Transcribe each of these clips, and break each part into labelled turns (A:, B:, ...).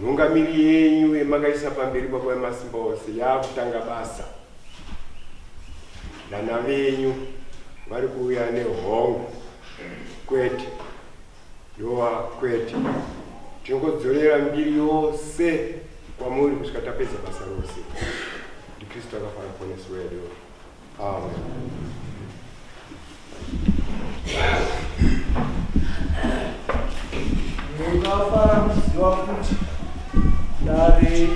A: Nhungamiri yenyu yemakaisa pamberi baba vemasimba ose yakutanga basa. Vana venyu vari kuuya nehongo kwete yova kwete tinongodzorera mbiri yose kwamuri kusvika tapedza basa rose ndikristu akafana poneso wedu
B: Mungafara kuziva kuti dare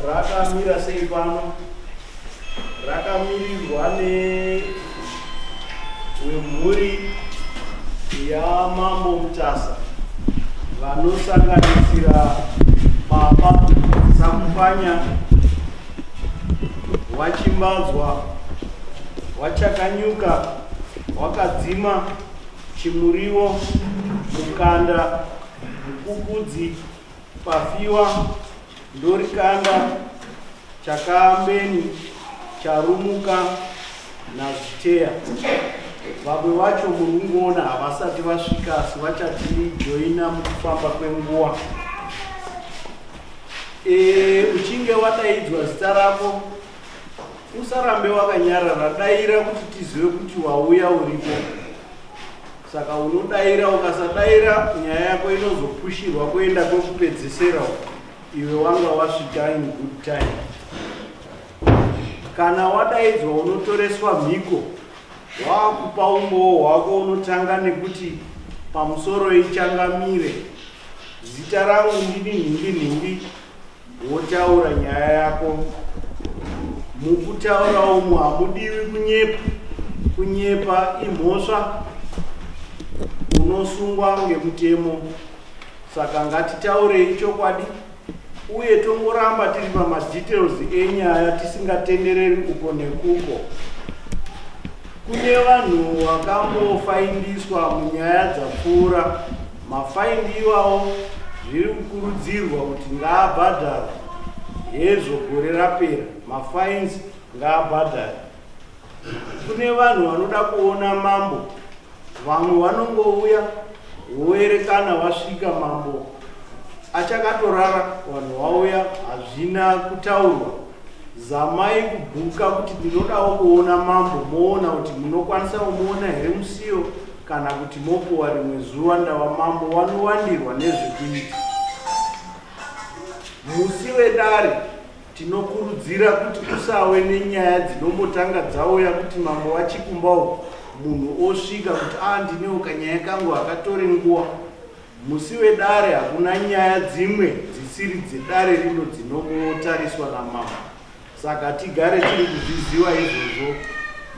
B: rakamira sei pano rakamirirwa newemhuri yamambo mutasa vanosanganisira baba sakupanya Wachimbadzwa, wachakanyuka, wakadzima, chimuriwo, mukanda, mukukudzi, pafiwa, ndorikanda, chakaambeni, charumuka, naziteya. Vamwe vacho muri kungoona havasati vasvika asi vachatijoina mukufamba kwenguva. E, uchinge wadaidzwa zita rako usarambe wakanyarara daira kuti tizive kuti wauya uripo saka unodaira ukasadaira nyaya yako inozopushirwa kuenda kwekupedzesera iwe wanga wasvika in good time kana wadaidzwa unotoreswa mhiko Waakupa umbowo hwako unotanga nekuti pamusoro ichangamire. Zita rangu ndini nhimbi nhimbi wotaura nyaya yako. Mukutaura umu hamudiwi kunyepa. Kunyepa imhosva unosungwa ngemutemo. Saka ngatitaurei chokwadi. uye tongoramba tiri pamadetails enyaya tisingatendereri uko nekuko kune vanhu vakambofaindiswa munyaya dzapfuura mafaindi iwawo zviri kukurudzirwa kuti ngaabhadharwa hezvo gore rapera mafains ngaabhadhare Kune vanhu vanoda kuona mambo vamwe vanongouya woerekana vasvika mambo achakatorara vanhu vauya hazvina kutaurwa zamai kubhuka kuti ndinodawo kuona mambo moona kuti munokwanisa kumuona here musiyo kana kuti mopuwa rimwe zuva ndava mambo wanowandirwa nezvekuita musi wedare Tinokurudzira kuti kusawe nenyaya dzinombotanga dzauya kuti mambo vachikumba uku munhu osvika kuti a ndinewo kanyaya kangu hakatore nguva. Musi wedare hakuna nyaya dzimwe dzisiri dzedare rino dzinombotariswa namambo saka tigare tiri kuzviziva izvozvo.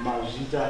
B: Mazvita.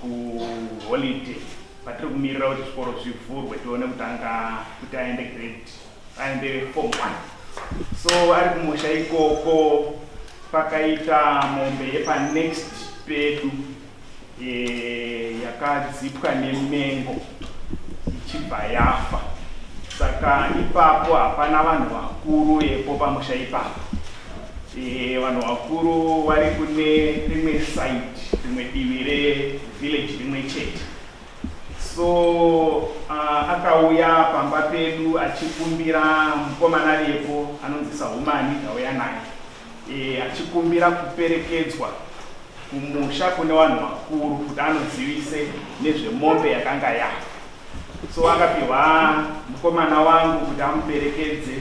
C: kuholiday patiri kumirira kuti zvikoro zvivhurwe tione kutanga kuti aende grade aende form one so ari kumusha ikoko pakaita mombe yepanext pedu e, yakadzipwa nemengo ichibva yafa saka ipapo hapana vanhu vakuru epo pamusha ipapo Eh, vanhu vakuru vari kune rimwe side rimwe divi revillage rimwe chete so uh, akauya pamba pedu achikumbira mukomana vepo anonzi sahumani ndauya naye e, achikumbira kuperekedzwa kumusha kune vanhu vakuru kuti anozivise nezvemombe yakanga yafa so akapihwa mukomana wangu kuti amuperekedze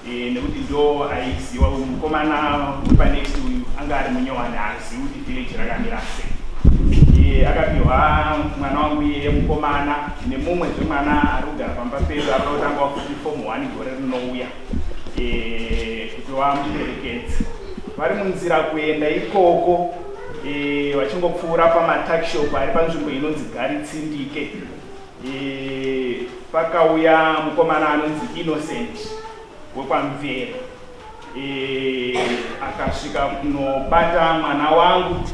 C: eh, nekuti ndo aiziwa uyu mukomana wepanext uyu anga ari munyowani haazivi kuti village rakamira se eh, akapihwa mwana wangu iyeye mukomana nemumwe zvemwana ari kugara pamba pedu ari kutanga wafuti fomu one gore rinouya eh, kuti wamuperekedze vari munzira kuenda ikoko vachingopfuura pamatakshop ari panzvimbo inonzi garitsindike pakauya mukomana anonzi innocent wekwamvera akasvika kunobata mwana wangu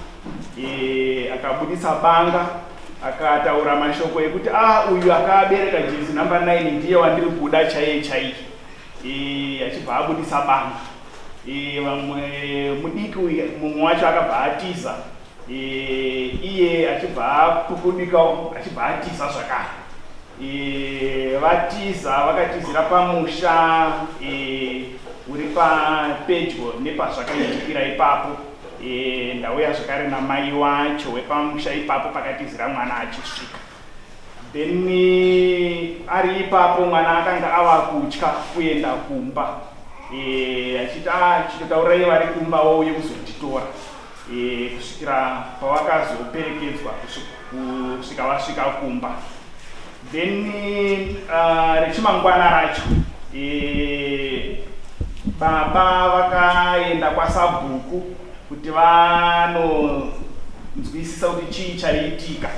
C: akabudisa banga akataura mashoko ekuti a ah, uyu akabereka jezi number 9 ndiye wandiri kuda chaiye chaiye achibva abudisa banga vamwe mudiki uyu mumwe wacho akabva atiza Iye achibva apukudikawo achibva atiza zvakare. Vatiza vakatizira pamusha uri papedyo nepazvakaitikira ipapo. Ndauya zvakare namai wacho wepamusha ipapo pakatizira mwana achisvika. Then ari ipapo mwana akanga ava kutya kuenda kumba achiti ah chitotaurai vari kumba wauye kuzonditora. e, kusvikira pavakazoperekedzwa kusvika vasvika kumba then uh, rechimangwana racho e, baba vakaenda kwasabhuku kuti vanonzwisisa kuti chii chaiitika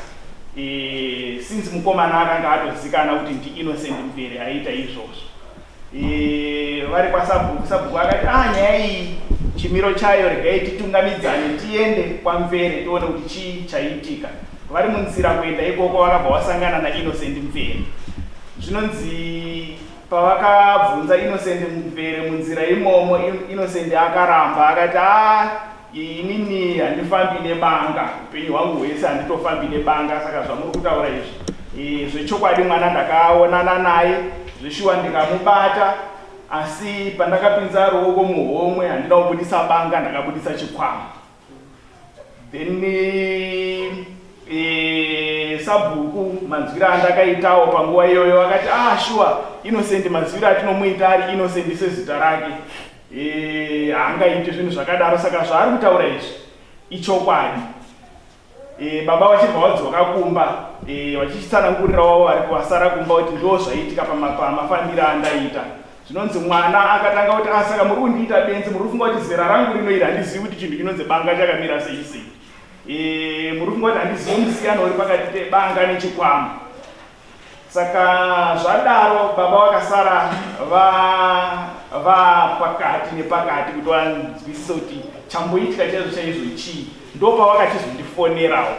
C: e, since mukomana akanga atozikana kuti ndiinnocent mberi aiita izvozvo Eh, vari kwasabhuku sabhuku akati ah nyaya iyi chimiro chayo regai titungamidzane tiende kwamvere tione kuti chii chaiitika vari munzira kuenda ikoko vakabva wasangana nainnocent mvere zvinonzi pavakabvunza innocent mvere munzira imomo innocent akaramba akati a ah, Inini handifambi nebanga upenyu hwangu hwese handitofambi nebanga saka zvamuri kutaura izvi e, zvechokwadi mwana ndakaonana naye zveshuwa ndikamubata asi pandakapinza ruoko muhomwe handina kubudisa banga ndakabudisa chikwama then e, sabhuku manzwira andakaitawo panguva iyoyo akati ah shuwa innocent manzwira atinomuita ari innocent sezita rake Eh, haangaite zvinhu zvakadaro saka zvaari kutaura izvi ichokwadi. Eh, baba vachibva vadzoka kumba eh, vachichitsanangurira wavo vari kuvasara kumba kuti ndo zvaiitika pamafambiro andaita zvinonzi mwana akatanga kuti asaka ah, muri kundiita benzi muri kufunga kuti zera rangu rino iri handizivi kuti chinhu chinonzi banga chakamira sei sei eh, muri kufunga kuti handizivi musiyano uri pakati pebanga nechikwama Saka zvadaro baba vakasara vapakati nepakati kuti vanzwisise kuti chamboitika chaizvo chaizvo chii. Ndopavakachizondifonerawo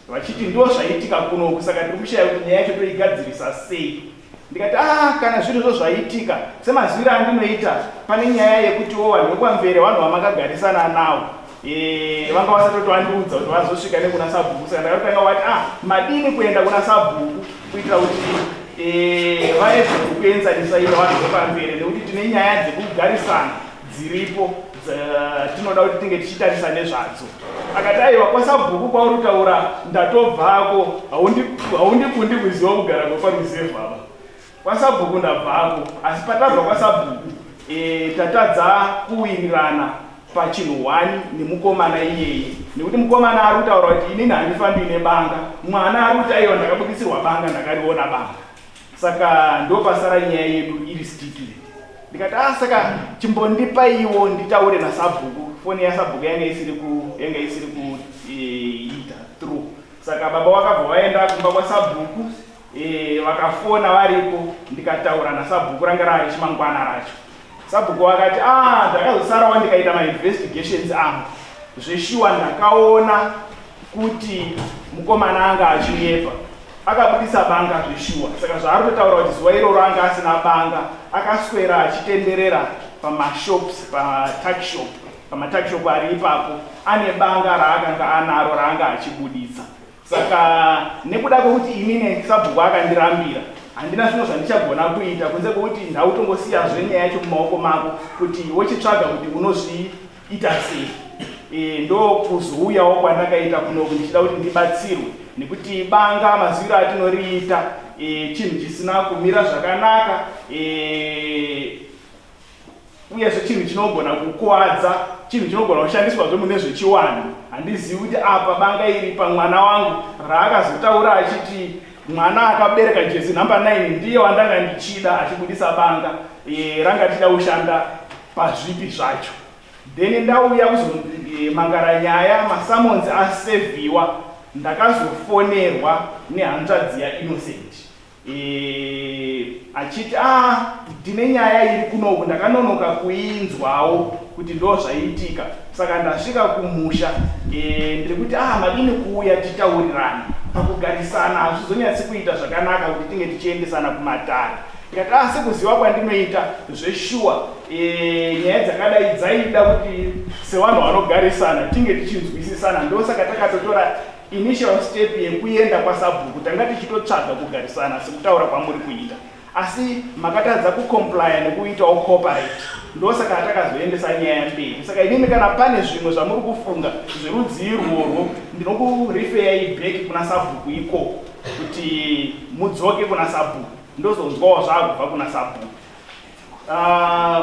C: vachiti ndo zvaitika kunoku saka tiri kushaya kuti nyaya yacho toigadzirisa sei. Ndikati ah kana zviri zvo zvaitika semazwiro andinoita pane nyaya yekutiwo vanhu vekwamvere vanhu vamakagarisana nawo. Eh, vanga vasatoti vandiudza kuti vazosvika nekuna sabhuku saka ndakatanga wati ah madini kuenda kuna sabhuku kuitira kuti eh, vane zvekukuenzanisa ivo vanhu vepamberi nekuti tine nyaya dzekugarisana dziripo tinoda kuti tinge tichitarisa nezvadzo akati aiwa kwasabhuku kwauri kutaura ndatobvako haundikundi kuziva kugara kweparuzevhu ava Kwasabhuku ndabvako asi patadza kwasabhuku eh, tatadza kuwirirana pachinhu one nemukomana iyeye nekuti mukomana ari kutaura kuti inini handifambi nebanga mwana ari kuti aiwa ndakabudisirwa banga ndakariona banga saka ndopasara nyaya yedu iri stikile ndikati a ah, saka chimbondipaiwo nditaure nasabhuku foni yasabhuku yanga isiri yanga isiri kuita eh, through saka baba wakabva waenda kumba kwasabhuku Eh, vakafona varipo ndikataura nasabhuku ranga rave chimangwana racho sabhuku vakati ah ndakazosarawo ndikaita mainvestigations angu zveshuwa ndakaona kuti mukomana anga achinyepa akabudisa banga zveshuwa saka zvaari kutaura kuti zuva iroro anga asina banga akaswera achitenderera pamashops patakshop pamatakshop ari ipapo ane banga raakanga anaro raanga achibudisa Saka nekuda kwekuti ini nesabhuku akandirambira handina zvimwe zvandichagona kuita kunze kwekuti ndautongosiya zve nyaya yacho mumaoko mako kuti wochitsvaga kuti unozviita sei e, ndokuzouyawo kwandakaita kunoku ndichida kuti ndibatsirwe nekuti banga maziviro atinoriita e, chinhu chisina kumira zvakanaka e, Uyezve chinhu chinogona kukuwadza, chinhu chinogona kushandiswazve mune zvechiwanhu. Handizivi kuti apa banga iri pamwana wangu raakazotaura achiti mwana akabereka jezi number 9 ndiye wandanga ndichida achibudisa banga e, ranga tichida kushanda pazvipi zvacho then ndauya kuzomangara e, nyaya masamonzi aseviwa ndakazofonerwa nehanzvadzi yainnocent Eeh achiti aah ndine nyaya iri kunoku ndakanonoka kuinzwawo kuti ndozvaiitika saka ndasvika kumusha eeh ndiri kuti aah madini kuuya titaurirane pakugarisana hazvizonyatsi kuita zvakanaka kuti tinge tichiendesana kumatare ndikati aah sekuziva kwandinoita zveshuwa eeh nyaya dzakadai dzaida kuti sevanhu vanogarisana tinge tichinzwisisana ndosaka takatotora Initial step yekuenda kwasabhuku tanga tichitotsvaga kugarisana sekutaura kwamuri kuita asi makatadza kucomplya nekuitawo cooperate ndosaka atakazoendesa nyaya mberi saka inini kana pane zvimwe zvamuri kufunga zverudzii rworwo ndinokurifeyai back kuna sabhuku ikoko kuti mudzoke kuna sabhuku ndozonzwawo zvaakubva kuna sabhuku uh,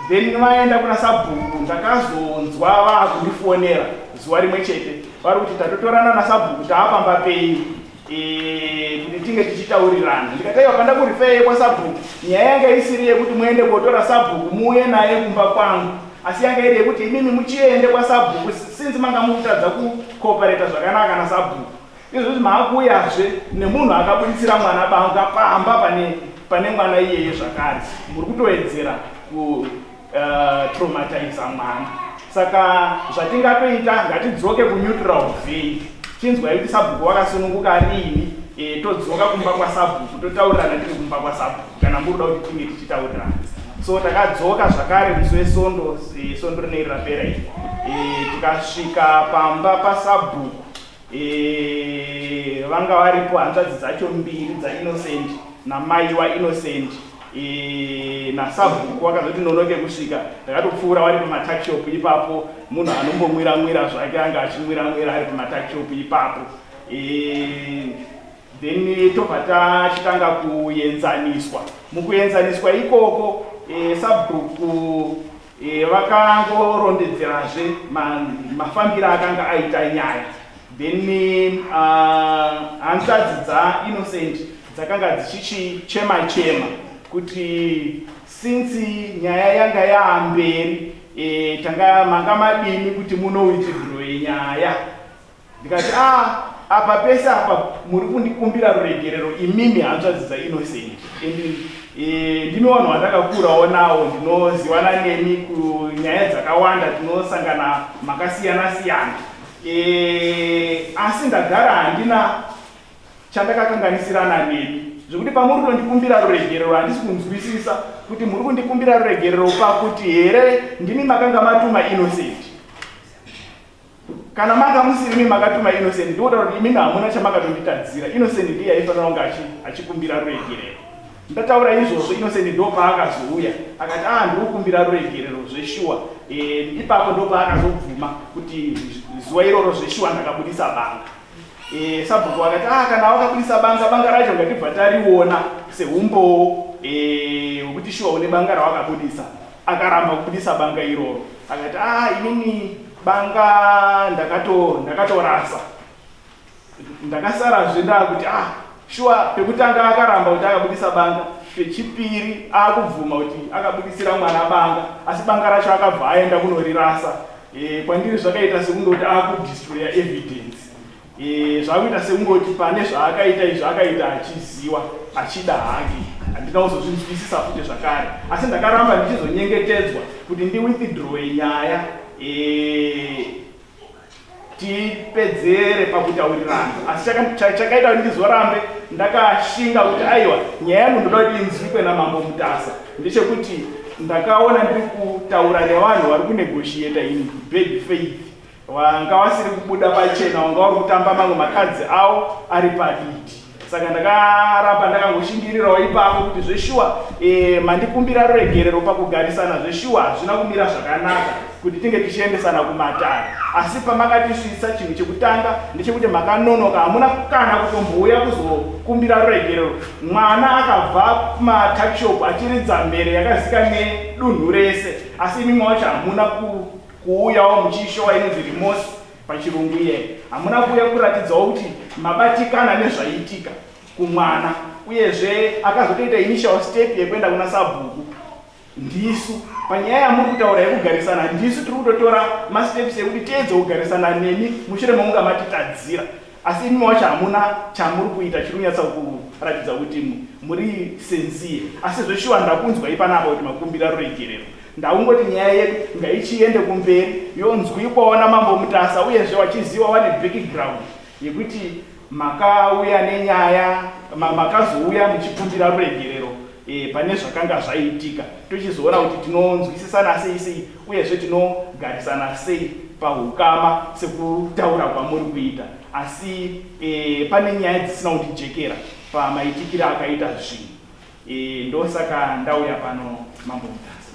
C: then vaenda kuna sabhuku ndakazonzwa vakundifonera zuva rimwe chete vari kuti tatotorana nasabhuku taapamba penyu e, kuti tinge tichitaurirana ndikataiwa panda kurifeye kwasabhuku nyaya yanga isiri yekuti muende kotora sabhuku muuye naye kumba kwangu asi yanga iri yekuti imimi muchiende kwasabhuku sinzi manga mukutadza kukopareta zvakanaka nasabhuku Izvozvi maakuuyazve nemunhu akabuditsira mwana banga pamba pane pane mwana iyeye zvakare. Muri kutoedzera ku uh, eh, traumatiza mwana. Saka zvatingatoita ngatidzoke ku neutral vein. Chinzwai kuti sabhuku wakasununguka riini e, eh, todzoka kumba kwa sabhuku totaurirana tiri kumba kwa sabhuku kana muri kuda kuti tinge tichitaurirana. So takadzoka zvakare musi wesondo e, eh, sondo rinei rapera iri. E, tikasvika pamba pa sabhuku Eh, vanga varipo hanzvadzi dzacho mbiri dzaInnocent namai waInnocent eh, nasabhuku wakazoti nonoke kusvika ndakatopfuura wari pamatakshop ipapo munhu anombomwira mwira zvake anga achimwira mwira ari pamatakshop ipapo eh, then tobva tachitanga kuenzaniswa mukuenzaniswa ikoko sabhuku Vakangorondedzerazve mafambiro akanga aita nyaya then uh, hanzvadzi dzaInnocent dzakanga dzichichichema chema kuti since nyaya yanga yaamberi e, tanga manga madini kuti munowitigroi nyaya Ndikati ah apa pese apa muri kundikumbira ruregerero imimi hanzvadzi dzaInnocent and eh, ndimi vanhu vandakakurawo nawo ndinozivana nemi kunyaya dzakawanda tinosangana makasiyana siyana eh, asi ndagara handina chandakakanganisirana nemi zvekuti pamuri kundikumbira ruregerero handisi kunzwisisa kuti muri kundikumbira ruregerero pakuti here ndimi makanga matuma Innocent Kana manga musiri imi makatuma Innocent ndikuda kuti imimi hamuna chamakatonditadzira. Innocent ndiye aifanira kunge achikumbira ruregerero. Ndataura izvozvo Innocent ndopaakazouya akati ah ndikukumbira ruregerero zveshuwa. Eh ipapo ndopaakazobvuma kuti zuva iroro zveshuwa ndakabudisa banga. Eh sabhuku akati ah kana wakabudisa banga banga racho ngatibva tariona sehumbowo eh wekuti shuwa une banga rawakabudisa. Akaramba kubudisa banga iroro. Akati ah imimi banga ndakato ndakatorasa ndakasarazve ndakuti ah shuwa pekutanga akaramba kuti akabudisa banga pechipiri akubvuma kuti akabudisira mwana banga asi banga racho akabva aenda kunorirasa e, kwandiri zvakaita sekundoti akudistroya evidence Eh, zvakuita sekungoti pane zvaakaita izvi akaita achiziwa achida hake handina kuzozvinzwisisa futi zvakare asi ndakaramba ndichizonyengetedzwa kuti ndiwithdrowe nyaya eh, tipedzere pakutaurirana asi chakaita kuti ndizorambe ndakashinga kuti aiwa nyaya yangu ndoda kuti inzwikwe namambo mutasa ndechekuti ndakaona ndiri kutaura nevanhu vari kunegoshieta in bad faith Wanga wasiri kubuda pachena wanga uri kutamba mamwe makadzi awo ari paditi saka ndakaramba ndakangoshingirirawo ipapo kuti zveshuwa e, mandikumbira ruregerero pakugarisana zveshuwa hazvina kumira zvakanaka kuti tinge tichiendesana kumatare asi pamakatisvitsa chinhu chekutanga ndechekuti makanonoka hamuna kana kutombouya kuzokumbira ruregerero mwana akabva kumatakshop achiridza mhere yakazika nedunhu rese asi imi mwacho hamuna ku Kuuyawo muchiishowa inonzi remorse pachirungu iyeye. Hamuna kuuya kuratidzawo kuti mabatikana nezvaiitika kumwana uyezve akazotoita initial step yekuenda kuna sabhuku. Ndisu panyaya yamuri kutaura yekugarisana ndisu tiri kutotora masteps ekuti tiedze kugarisana nemi mushure mekunga matitadzira. Asi imi wacho hamuna chamuri kuita chiri kunyatsa kuratidza kuti muri senzie. Asi zveshuwa ndakunzwai panapa kuti makumbira ruregerero. Ndakungoti nyaya yedu ngaichiende kumberi yonzwikwawo naMambo Mutasa uyezve wachiziva wane background yekuti makauya nenyaya, makazouya muchikumbira ruregerero. e, pane zvakanga zvaiitika tochizoona kuti tinonzwisisana sei sei uyezve tinogarisana sei pahukama sekutaura kwamuri kuita asi e, pane nyaya dzisina kundijekera pamaitikire akaita zvinhu e, ndosaka ndauya pano mambo mutasa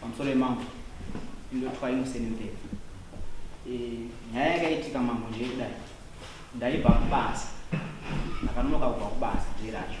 D: pamusoro yemambo indotwa inoseni mberi eh, nyaya yakaitika mambo ndiye kudai ndaibva kubasa ndakanonoka kubva kubasa ndiye racho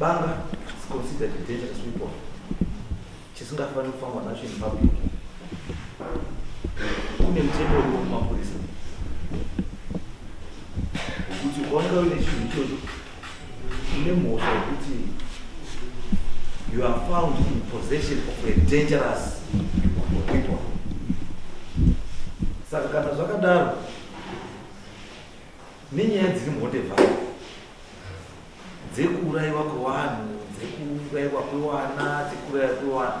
E: banga is considered a dangerous weapon chisingafaniri kufambwa nacho in public kune mutemo uriwo kumapurisa wekuti ukaoneka uine chinhu ichocho nemhosva yekuti you are found in possession of a dangerous weapon saka kana zvakadaro nenyaya dziri mhondevhai dzekuurayiwa kwevanhu dzekuurayiwa kwewana dzekuurayiwa kwewana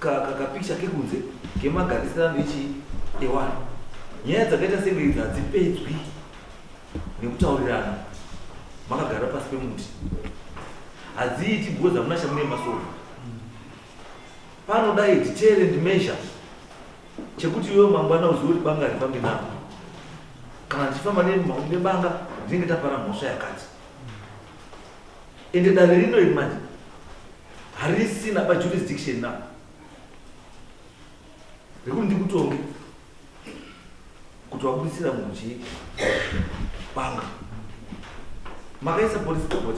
E: ka ka kapikicha kekunze kemagarisirano echii ewanhu nyaya dzakaita senge idzi hadzipedzwi nekutaurirana makagara pasi pemuti hadziiti because hamuna chamune masofa panodai detail and measure chekuti iwe mangwana uzive kuti banga ripambi navo kana ndichifamba nebanga ndinenge tapara mhosva yakati Ende dare rino iri manje harisina pa jurisdiction now rekuti ndikutonge kuti wabudisira munhu chii banga makaisa police report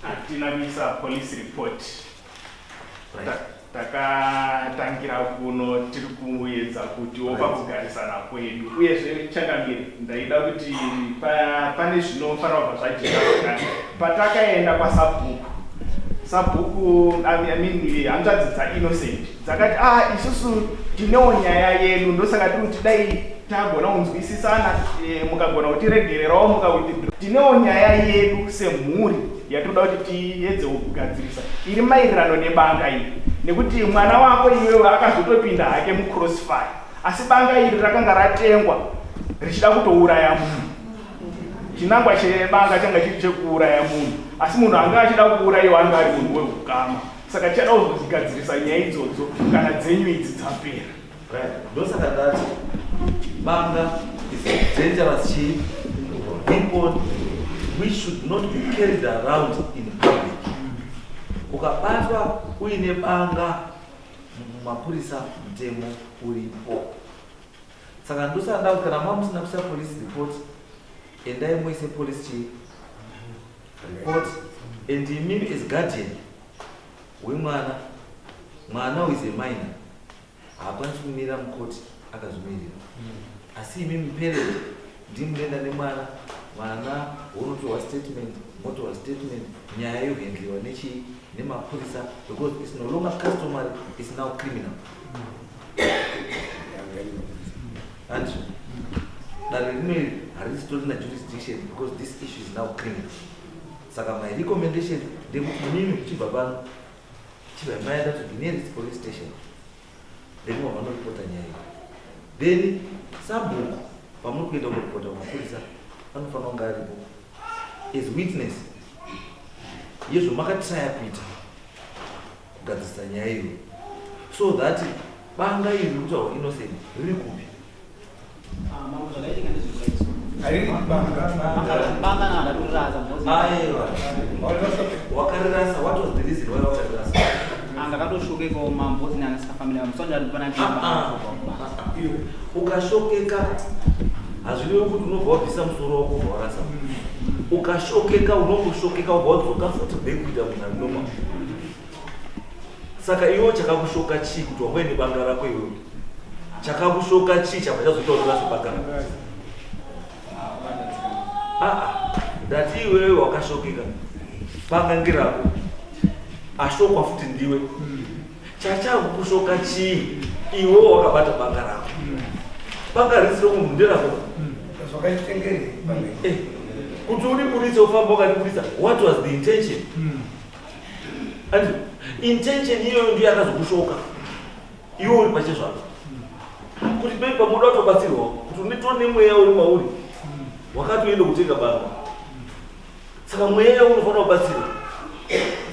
E: hatina
C: kuisa police report takatangira kuno tiri kuedza kutiwo pakugarisana kwedu uyezve changamire ndaida kuti pane zvinofanira kubva zvajeka pakati patakaenda kwasabhuku sabhuku hanzvadzi dzainnocent dzakati a ah, isusu tinewo nyaya yedu ndosaka tiri kuti dai tagona kunzwisisana eh, mukagona kutiregererawo mukawithdraw tinewo nyaya yedu semhuri yatinoda kuti tiedze kugadzirisa iri maererano nebanga iri nekuti mwana wako iwewe akazotopinda hake mucrossfire asi banga iri rakanga ratengwa richida kutouraya munhu chinangwa chebanga changa chiri chekuuraya munhu asi munhu anga achida kuurayiwa anga ari munhu weukama saka tichada kuzozigadzirisa nyaya idzodzo kana dzenyu idzi dzapera ndosaka
E: ndati banga is a dangerous chief weapon we should not be carried around in public ukabatwa uine banga mumapurisa mutemo uripo saka ndosaka ndati kana mamusina kusa police report endai muise police chief report and imimi as guardian wemwana mwana is a minor haakwanisi kumira mukoti akazvimirira asi imi muperere ndimunoenda nemwana mwana wonotorwa statement motorwa statement nyaya yohendliwa nechii nemapurisa because is no longer customary is now criminal and dare rino iri harisitorina jurisdiction because this issue is now criminal saka my recommendation ndekuti mimi kuchibva pano Chibva maenda to the nearest police station. Then vanoripota nyaya iyi. Then sabhuku pamuri kuenda kuripota kumapurisa anofanira kunge aripo as witness yezvomakatraya kuita kugadzirisa nyaya iyo so that banga iri rikutaura innocent riri kupi ukashokeka hazvirevi kuti unobva wabvisa musoro wako ubva warasa ukashokeka unongoshokeka ubva wadzoka futi bekuita munhu anoma saka iwo chakakushoka chii kuti wauya nebanga rako iwe chakakushoka chii chabva chazoita kuti vazobagara aa ah, ah, ndati iwewe wakashokeka banga ngerako ashokwa futi ndiwe hmm. chachakukushoka chii iwewo wakabata banga rako hmm. banga risi romunhu nderako hmm. zvakaitengere eh, kuti uriburitse ufamba ukariburitsa what was the intention Andrew, intention iyoyo ndiyo yakazokushoka iwe uri pachezvako kuti pai pamoda kutobatsirwawo kuti unetoo nemweya uri mauri wakatoenda kutenga banga saka mweya unofanira kubatsirwa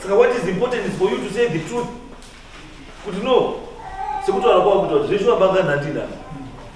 E: saka what is important is for you to say the truth kuti no sekutaura kwavo kuti zveshuwa banga nhandina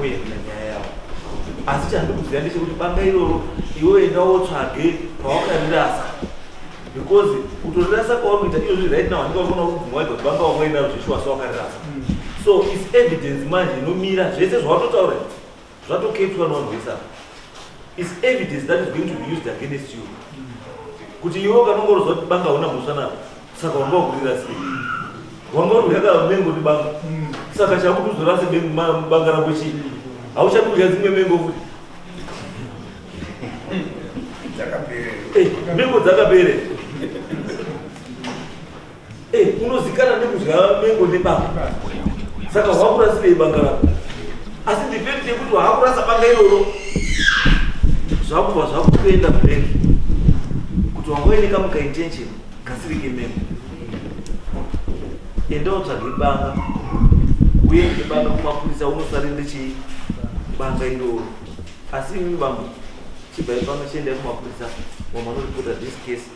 E: uye kune nyaya yavo asi chandikuziva ndechekuti banga iroro iwe enda wotsvage pawakarirasa because kutorirasa kwawanoita iyo zvi right now handika ukona kubvumwa idzo banga wamwainaro zveshuwa sewakarirasa so is evidence manje inomira zvese zvawatotaura zvatoketwa nonzwisa is evidence that is going to be used against you kuti iwe ukanongorodzwa kuti banga huna mhosva navo saka wanga wakurira sei wanga uri kudya mengo ndi banga saka chakuti uzorase banga rako chii hauchadi kudya dzimwe mengo futi mengo dzakapere Eh, unozikana nekudya mengo nebanga saka wakurasirei banga rako asi ndipeti yekuti waakurasa banga iroro zvakubva zvakutoenda break kuti wanga uine kamuka intention kasiri kemengo enda utsvage banga uye ndebanga kumapurisa unosarinde chii banga iroro asi imimi bambo chibvai pano chiendai kumapurisa wamanoripoda this case